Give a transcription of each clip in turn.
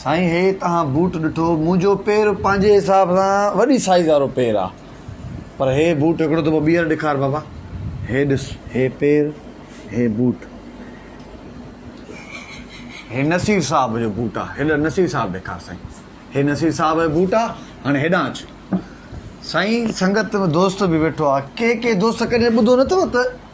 سائين هي تهان بوٽ ڏٺو منهنجو پير پنهنجي حساب سان وڏي سائز وارو پير آ پر هي بوٽ هڪڙو دفعو ٻيهر ڏيکار بابا هي ڏس هي پير هي بوٽ هي نصير صاحب جو بوٽ آ هيڏا نصير صاحب ڏيکار سائين هي نصير صاحب جو بوٽ آ هاڻي هيڏان اچ سائين سنگت دوست به ويٺو آ ڪي ڪي دوست ڪڏهن ٻڌو نه اٿو ته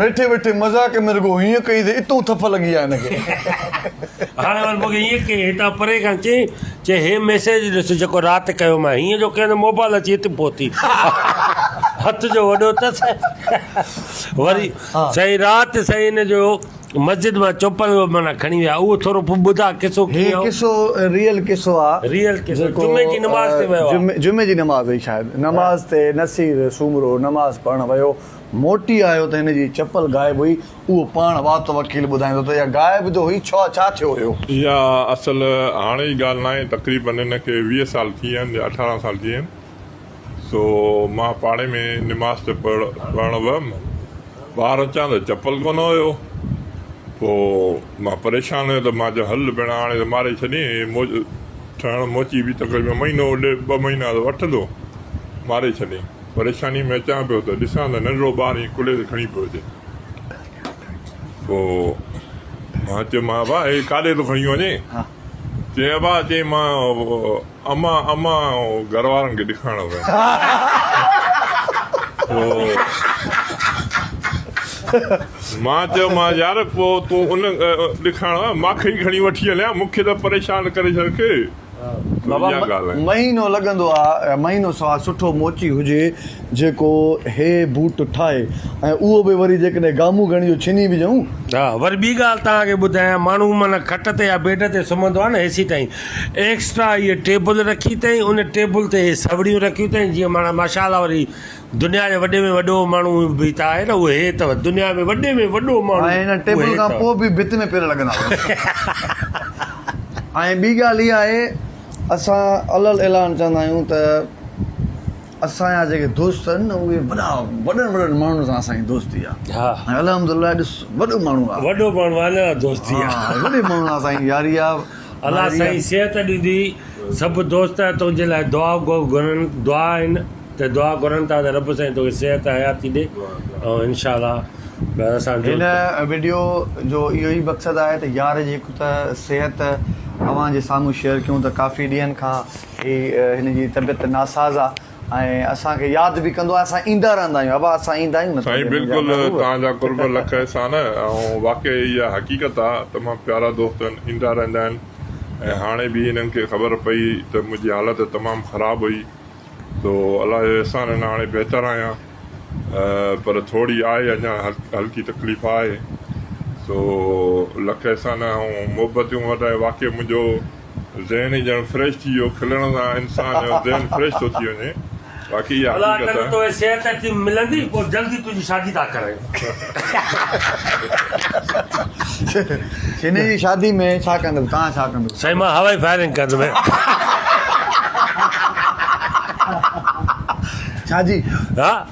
ويٺي ويٺي مذاق ۾ رڳو هيئن ڪئي ته اتون ٿڦ لڳي آ هن کي. هاڻي وري مونکي هيئن ڪئي هتان پري کان چئي چئي هي ميسيج ڏس جيڪو رات ڪيو مان هيئن جو ڪيان ته موبال اچي هت پهتي هٿ جو وڏو تس وري سائين رات سائين هن جو مسجد مان چوپل معنيٰ کڻي ويا اهو ٿورو پو ٻڌا قصو هي ڪيئن هو قصو ريئل قصو آ ريئل قصو جيڪو جمعي جي نماز تي ويو آ جمعي جمعي جي نماز هئي شايد نماز تي نصير سومرو نماز پڙهڻ ويو موٽي آيو ته هن جي چپل غائب هئي، اهو پاڻ وات وڪيل ٻڌائيندو ته اها غائب جو هئي، ڇا ڇا ٿيو هيو؟ اها اصل هاڻي جي ڳالهه ناهي، تقريبن هن کي ويهه سال ٿي ويا آهن يا اٺارهن سال ٿي ويا آهن، سو مان پاڙي ۾ نماز تي پڙهڻ ويم، ٻاهر اچان ته چپل ڪونه هيو، پوء مان پريشان هيو ته مان چيو هل ڀيڻا هاڻي ته ماري ڇڏين، هي ٺهڻ موچي به تقريبن مهينو ڏيڍ ٻه مهينا ته وٺندو، ماري ڇڏين. پريشانيء ۾ اچان پيو ته ڏسان ته ننڍڙو ٻار ائين ڪلهي تي کڻي پيو اچي. پوء مان چيم ابا هي ڪاڏي ٿو کڻي وڃي؟ چيائين ابا چيائين مان امان امان گهر وارن کي ڏيکارڻ ويم. پوء مان چيومانس يار پوء تون ان ڏيکارڻ ويم مان کي ئي کڻي وٺي هليان مون کي ته پريشان ڪري ڇڏ ڪي. بابا مهينو لڳندو آ ۽ مهينو سوا سٺو موچي هجي جيڪو هي بوٽ ٺاهي ۽ اهو به وري جيڪڏهن گامون گهڻي جو ڇني به جئون. ها وري ٻي ڳالهه توهان کي ٻڌايان ماڻهو معنيٰ کٽ تي يا بيڊ تي سمهندو آ نه هيسي تائين ايڪسٽرا هيء ٽيبل رکي تائين ان ٽيبل تي هي سوڙيون رکيون تائين جيئن معنيٰ ماشاء الله وري دنيا جي وڏي ۾ وڏو ماڻهو به ته آهي نه اهو هي ته دنيا ۾ وڏي ۾ وڏو ماڻهو ۽ هن ٽيبل کان پوء به ڀت ۾ پير لڳندا هئا ۽ ٻي ڳالهه اها آهي اسان علل اعلان چوندا آهيون ته اسان جا جيڪي دوست آهن نه اهي وڏا وڏن وڏن ماڻهن سان اسان جي دوستي آهي ۽ الحمد لله ڏس وڏو ماڻهو آهي وڏو ماڻهو آهي نه دوستي آهي وڏي ماڻهن سان اسان جي ياري آهي الله سائين صحت ڏيندي سڀ دوست تنهنجي لاء دعا گهرن دعا آهن ته دعا گهرن ٿا ته رب سائين توکي صحت حياتي ڏي ۽ انشاء الله اسان جو هن وڊيو جو اهو ئي مقصد آهي ته يار جي هڪ ته صحت اوهان جي سامهون شيئر ڪيون ته ڪافي ڏينهن کان هي هن جي طبيعت ناساز آ ۽ اسان کي ياد به ڪندو آهي اسان ايندا رهندا آهيون ابا اسان ايندا آهيون نه سائين بلڪل توهان جا قرب لک احسان ۽ واقعي اها حقيقت آ ته مان پيارا دوست ايندا رهندا آهن ۽ هاڻي به هنن کي خبر پئي ته منهنجي حالت تمام خراب هئي سو الله جو احسان ان هاڻي بهتر آهيان پر ٿوري آهي اڃا هلڪي تڪليف آهي سو لک احسان ۽ محبتيون وٽائي واقعي منهنجو ذهن ئي ڄڻ فريش ٿي ويو، کلڻ سان انسان جو ذهن فريش ٿو ٿي وڃي، واقعي اها حقيقت آهي. الله ڪندي توکي صحت اچي ملندي، پوء جلدي تنهنجي شادي ٿا ڪرايون. شيني جي شادي ۾ ڇا ڪندو؟ توهان ڇا ڪندو؟ سائين مان هوائي فائرنگ ڪندم. ڇا جي؟ ها.